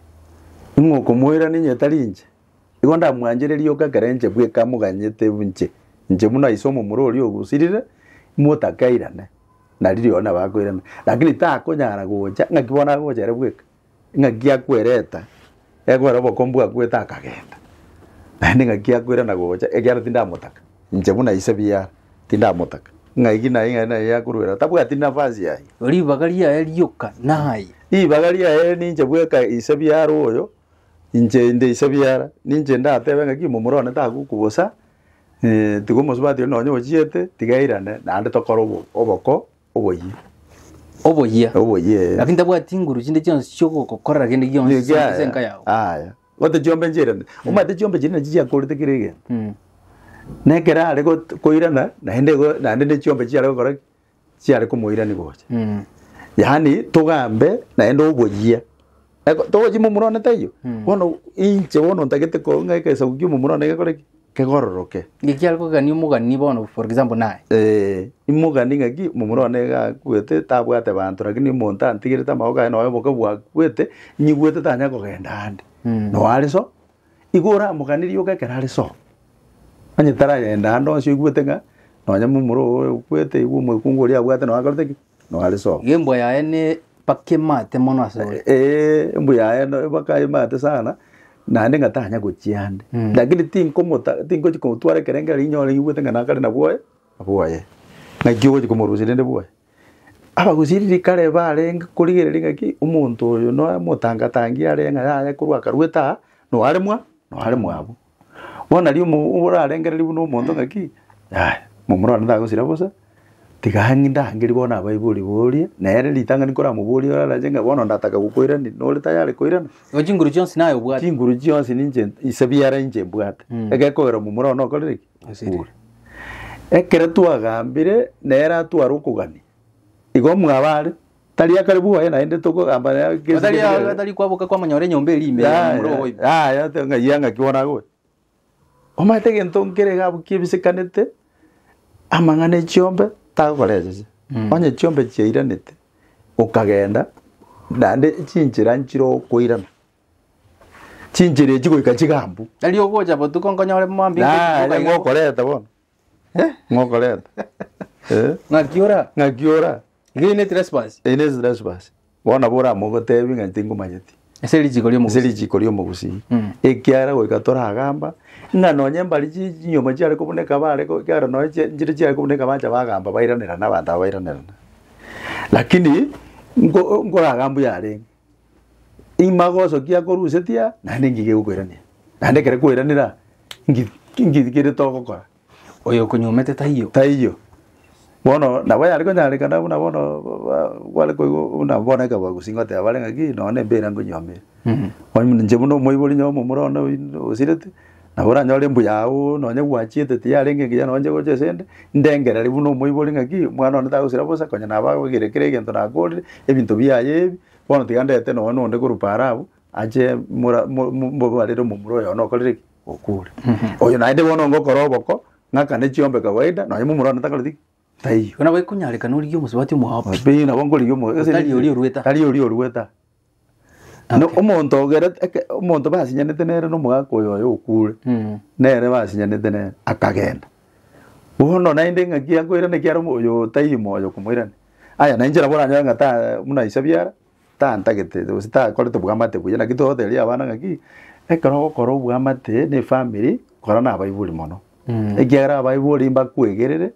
Ing'o okomoira ninye tari inche? Igo ndamwanchire rioka ekero inche bweka moganyete inche. Inche buna iso omomura oria ogosirire, motakairane. Nari rirorio nabo akoirana. Lakini takonyara gocha, ng'aki bono agocha ere bweka? Ing'aki akwereta, ekobera obokombu bwakuete akagenda, naende ing'aki akoirana gocha, ekiagera tindamotaka, inche buna ise biara, tindamotaka. Ing'aki naye ing'aki naye akoruera, tabwati nafasi aye. Ribaga riaye rioka naye. Ribaga riaye ninche bweka ise biara oyo, inche inde ise biara, ninche ndatebe ng'aki momura one tagoku bosa, eh, tiga omosubati oria nonye ochiete, tiga airane, naende tokore obo- oboko. Oboyia. Oboyia. Oboyia, eh. Lakini tabwati nguru chinde chionsi chiogokorera kende gionsi Yega, ase aya. enka yao. Aya. Ote chiombe nchirane. Omate chiombe chiri nachi chiakorete kera egento. Mm. Nekera are got- koirana naende igo naende ne chiombe chiare gokora ki? Chiare komoirani gocha. Mm. Yaani togambe naende oboyia. Eko togochia momura one taiyo. Mm. Bono inche bono ntagete ko ng'ake esagu kia omomura one gekore ki? kegororoke. Ng'eki are kogania omogani bono for example naye. Eh, imogani ng'aki omomura one iga akwete tabwate banto rakini omonto antigerete amagogo aye nonya oboke bwakwete nyigwete tanya kogenda ande Mm. noe are so igo oramoganirie oka ekero are so onye taragenda ande onsi oigwete ng'a nonya momura oyo okwete igo omokungu oria abwate noe akorete ki. Noare soko. Iga embwa yaye ne mpaka emate mono ase ore. Eh, embu yaye no mpaka emate sana naende ng'a tanya gochia ande Mm. lakini tinkomota tingochi komotwara ekerengera rinyore ngigwete ng'a nakare na bwoye bwoye naki ogochi komorusia rende bwoye abagusiriri kare barenge korigereria ng'a ki omonto oyo noe motangatange are ng'a yaya korwa akarwete aa noare mwa noare mwabo Bono nari omo orarengereria buna omonto ng'aki, yaya momura one tagosira bosa, tiga ang'e ndangeri bono abaibori borie, nere ritang'ani koramoborie orarache ng'a bono ndataka gokoirania, nore tayari koirana? Igo chinguru chionsi naye obwate. Chinguru chionsi ninche ase ebiara inche mbwate, Mm. egekogera momura one okorire ki? Osire. Okure. Ekero twagambire, nere atware okogania. Igo mwabare, Tari akare bwoye naende togogamba nere gese Gatari gese kere. gatari kwaboka kwamonyora enyomba eria ime ya momura obo ime. Aya ate ng'a ya ng'aki bono agoe. Omanyete egento nkere iga abwo kibisekanete, amang'ana e chiombe tagokora esese. Onye chiombe chiairanete, okagenda naende chinchera nchire okoirana. Chinchera echi goika chigambu. Tari ogocha botuko nkonyore mwambinge Naye iga iga. ngokoreta bono, Eh, ng'okoreta. Eh, ng'aki ora ng'aki ora. iga ine trespass Ine trespass. Bono nabo oramogotebi ng'a tingomanyeti. ase richiko ase ri'omogusi richiko ri'omogusii Mm. ekiagera goika toragamba ng'a nonye mbari chi- chinyomba chiare kobuneka bare ko- ekiagera nonye chie- nchire chiare kobuneka bancha bagamba bairanerana abanto aba bairanerana lakini nko- nkoragambwa yarenge Ime agosokia akorusetia naende enki gegokoirania. Naende ekero ekoiranera nki nki kere togokora. Oyo okonyomete taiyo. Taiyo. Bono nabo yare konyarekana buna bono ba- bare koigwa buna bono ekero bagusii ngoteba bare ng'aki nonya na embera nkonyomere. Mh. Onye buna inche buna omoibori nyomo omorwone oyio osirete, Nabo oranyore mbuya agwo nonye gwachiete tiyarenge engiya nonye chigocha ase ende, ndengereri buna omoibori ng'aki, omwana one tagosira bosa, konya nabo agoigera kera egento nakorire, ebinto biaye ebi, bono tiga ndete nonye na onde korwa paaro abwo, ache mora mo mo mborwarere omomura oyo one okorire ki, okure. Oyo naende bono ngokora oboko, ng'akane chiombe kawaida, nonye momura one takoreti ki, Taiyo. Buna baikonyareka norigie omosubati omwaopi. Pi nabo nkorigia omo. ase Otari niki- oria orueta. Tari oria orueta. No, Okay. omonto ogere- eke- omonto basinyanete nere na omogaka oyo oye okure. Mm. nere basinyanete nere akagenda bono naende ng'aki akoirana ekiara omo- oyo taiyo moyo komoirania aya nainche nabo oranyore ng'a ta buna isabiara tantagete gose takorete obwamate buya. Naki togoteberia abana ng'aki, ekero ogokora obwamate ne efamiri, kora na abaibori mono, ekiagera abaibori mbakwegerere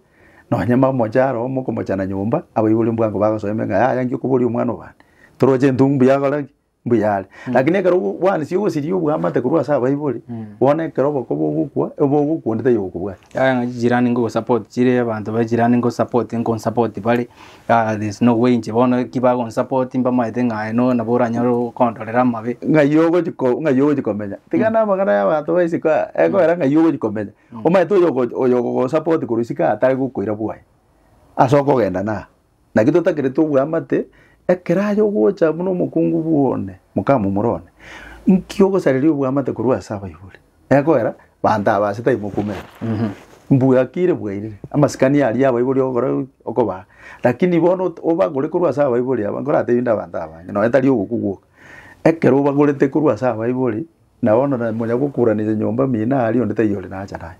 nonye momoche aroro mokomochana nyomba, abaibori mbwango bagosoe ime ng'a yaya inki okoboria omwana obande, toroche intwe mbuya akore ki? mbuya are. Lakini ekero ogo bwansi ogosiria obwamate korwa ase abaibori, bono ekero obokoba ogokwa, obo ogokwa onde taiyo ogokobwati. Yaya ng'a chijirani nkogosupport chire abanto ba echirani nkosupport nkonsupport bare, Ah, there's no way inche bono ki bagonsupport mbamaete ng'a aye no nabo oranyare okondorera amabe. ng'ai ogochi ko- ng'ai ogochi komenya tiga na amang'ana ya abanto ba isiko aya ekoera ng'ai ogochi komenya omaete oyo ogo- oyo ogogosupport korwa isiko aya tari gokoira bwoye ase okogenda na aa naki totakereti obwamate ekero aye ogocha buna omokungu bwa one mokamomura one nki ogosareria obwamate korwa ase abaibori. Nekoera, banto aba ase taimokumera. Mbwakire bwairire, amasikani aria abaibori ogokora gaki, okobaa. Rakini bono ot- obagore korwa ase abaibori aba, nkoratebi nde abanto abange, nonya tari ogokwa gwoka. Ekero obagorete korwa ase abaibori, nabo bono na manya gokuranisa nyomba mino aria, onde taiyo ore nacha naye.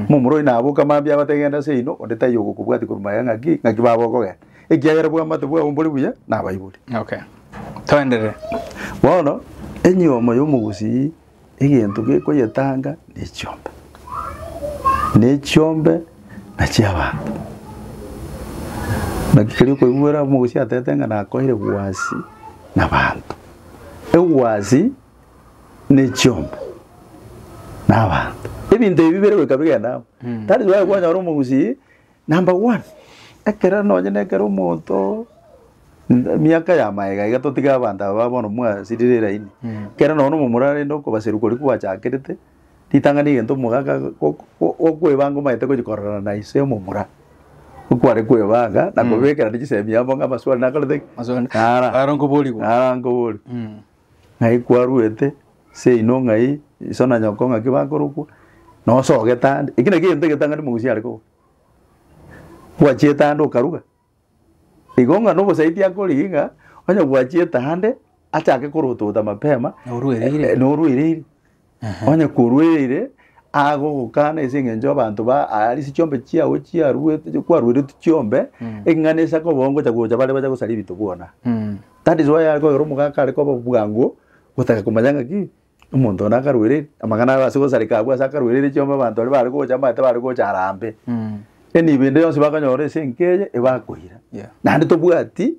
Buna omorwoti naboka mambia agote genda ase ino, onde taiyo ogokobwati korwa magega ng'aki, ng'aki baba okogenda. Ekiagera obwamate bwao mbore buya, na abaibori. Okay. Toenderere. Bono, enyomo ya omogusii egento gekoyetanga nechiombe, na echiombe na chi'abanto. Naki keri okoigwera omogusii atete ng'a nakoeire egwasi nabanto, egwasi na echiombe na abanto. Ebinto ebi bire goika bigende amo. That is why kwanyora omogusii. Number one, ekero nonye na ekero omonto, emiaka ya maega iga totige abanto aba ba bono mwasirire elaini, ekero nonye na omomura arende okobaseru koria kwachakerete, ritang'ani rigento omogaka go- go- gokwebanga omanyete gochia kororana na ise omomura, okware kwebanga na kobekerana chisemi amo ng'a amaswali nakorete ki? Maswali. Nara. Naro nkoborigwa. Nara nkoborigwa. Mm. ng'ai kwaruete seino ng'ai iso na nyoko ng'aki bakorokwa nosa ogete ande eki naki egento egetang'ani mogusi are koba gwachiete ande okaruga igo ng'a nobosaiti akore ng'a onye gwachiete ande achake korotota mapema noruereire. Onye korwa ere ere agogokana ase eng'encho y'abanto ba aa ase chiombe chiao chiaruete kwarueretwe chiombe, eking'ana ase akoba ongocha gocha bare bache gosaria ebinto bwona. That is why are koyora omogaka are koba bwango gotaka komanya ng'a ki, omonto one akaruereire. Amang'ana aba ase gosareka abwo ase akaruereire chiombe abanto baria bare gocha amanyete bare gocha arambe. Then ebende yonsi bakonyora ase enka eye ebakoira. Naende tobwati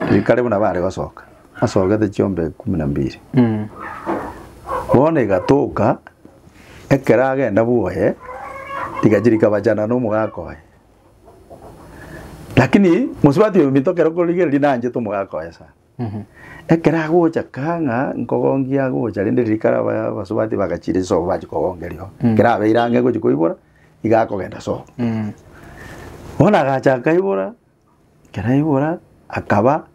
Ekare buna bare gosoka, asogete chiombe kumi na mbiri. Bono egatoka, ekero agenda bwoye, rigachia rikabachana nomogaka oye. Lakini mosubati oyo ominto kero okorigereria naanchete omogaka oye sana. Ekero agocha kaa ng'a nkogongia agocha rende rikare aba- abasubati bagachire chisogo bachia kogongeria oo. Ekero abeire ang'e gochia koibora, iga akogenda sobo. Bono agacha akaibora. Ekero aigora akaba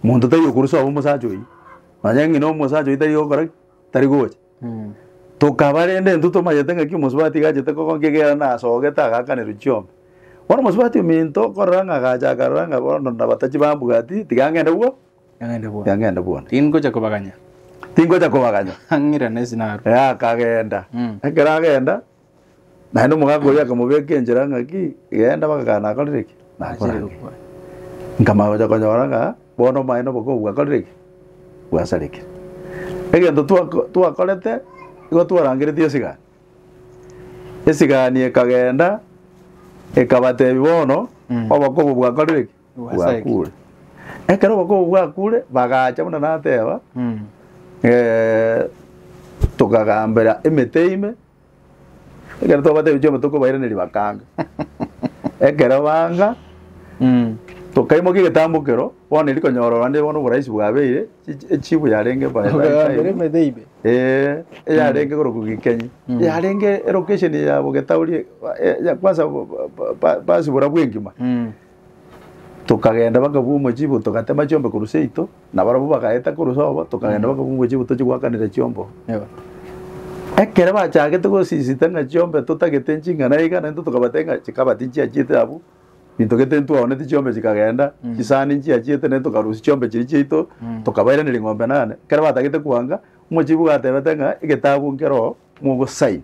monto tari okorusia obe omosacha oyio, nonye ng'ina omosacha oyio tari gokora ki? Tari gocha. Tokaba rende intwe tomanyete ng'aki omosubati igachete kogokora nki ekiagera nasogete agaakanerwe chiombe. Bono omosubati ominto okorora ng'a agacha akarora ng'a bono nabatachie bambwati tiga ng'ende bwo tiga ng'ende bwone. Tingocha kobaganya. Tingocha kobaganya. Ang'ira nesi narue. Ee akagenda. Ekero agenda, Naende omogaka oria akamobeka enchera ng'aki, Genda bagakae nakorire ki? Nachire gokwa. Nkamanya gocha konyora ng'a bono omaene obokongu bwakorire ki? Bwasarekire. Egento twako- twakorete nigo twarangereti esigani. Esigani ekagenda ekabatebia bono Mm. obokongu bwakorire ki? Bwasarekire. Bwakure. Ekero obokongu bwakure bagacha buna nateba Mm. eh, tokagambera emete ime Ekero twabatebi chiombe tokobairaneria bakanga. Ekero banga Mm. tokaimokia egetambukero bono eri konyora orande bono oboraisi bwabeire chichi- echibu yarenge by- by Okagambera time. emete ibe. Ee, eyarenge korokwa gikenyi Mm. yarenge elocation ya bogetauri e- e- ya kwanza bo- bo- bo- ba- basibora bwengima Mm. tokagenda bakabua omochibo togatema chiombe korwa seito Nabarabwo bagaeta korwa sobo, tokagenda mpaka kungwe chiabu tochie goakanera chiombo. Ekero bachagete gosisita ng'a chiombe totagete ching'ana iga, naintwe tokabatebia ng'a chikaba tinchiachiete abwo, binto gete ntitwaoneti chiombe chikagenda, chisani nchiachiete, naintwe tokarusia chiombe chiria chiaito, tokabairaneria eng'ombe nane. Ekero batagete koanga, omochibi ogo gatebete ng'a egetabu nkeroo mogosign,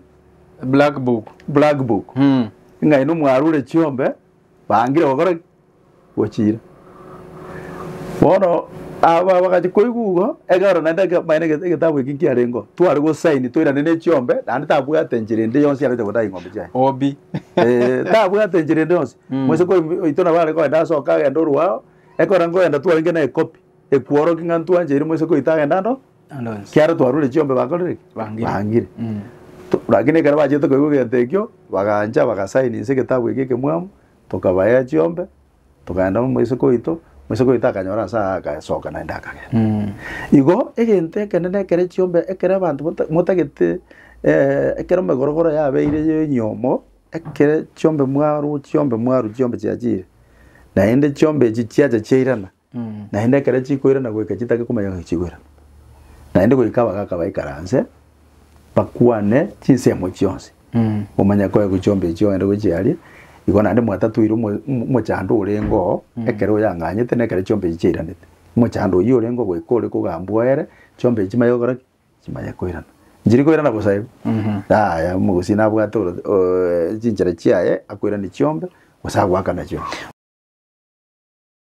Black book. black book, ng'a ino mwarure chiombe, Baangire gokora ki? Gochiira. Bono aba bagacha koigwa igo, ekero naende eke- maene eke- egetabu eke nkiarengeo, tware gosaini toirane ne chiombe, naende tabwate enchera ende yonsi arete gotaga eng'ombe chiaye. Obi. Eh, tabwate enchera ende yonsi. Mm. Moise kori oito nabo are koenda ase okagenda orwao, ekero ngoenda twarenge na ekopi, ekworokia ng'a ntwancheire Moise koita agende ande oo. Kiaro twarure chiombe bakorire ki? Bangire. To- Rakini ekero bachete koigwa egento ekio, bagancha bagasainisa egetabu ekio ekemwamu, tokabaea chiombe, togaenda amo isiko oito, mu isiko oito akanyora nse aa agasoka naende akagenda. Igo egento ekenene ekere chiombe ekere abanto bata motagete ekero emegorogoro yabeire ya enyomo, ekere chiombe mwaru chiombe mwaru chiombe chiachire, naende chiombe echi chiacha chiairana, Mm. naende ekero chikoirana goika chitake komanya ng'a chigoirana naende goika abagaka baikaranse bakwane chinsemo chionsi Mm. omanye koe gochiomba echi ogende gochia aria igo naende mwatatoire omo- omo- omochando orengeo ekero oyang'anyete na ekero chiomba echi chiairanete omochando oyio orengeo goika ore kogambwa ere chiomba echi chimanye gokora ki chimanye koirana nchiri koirana bosa igo Mhm. yaya omogusii nabwate oro chinchera chiaye akoirane chiombe gose agoakana chiombe.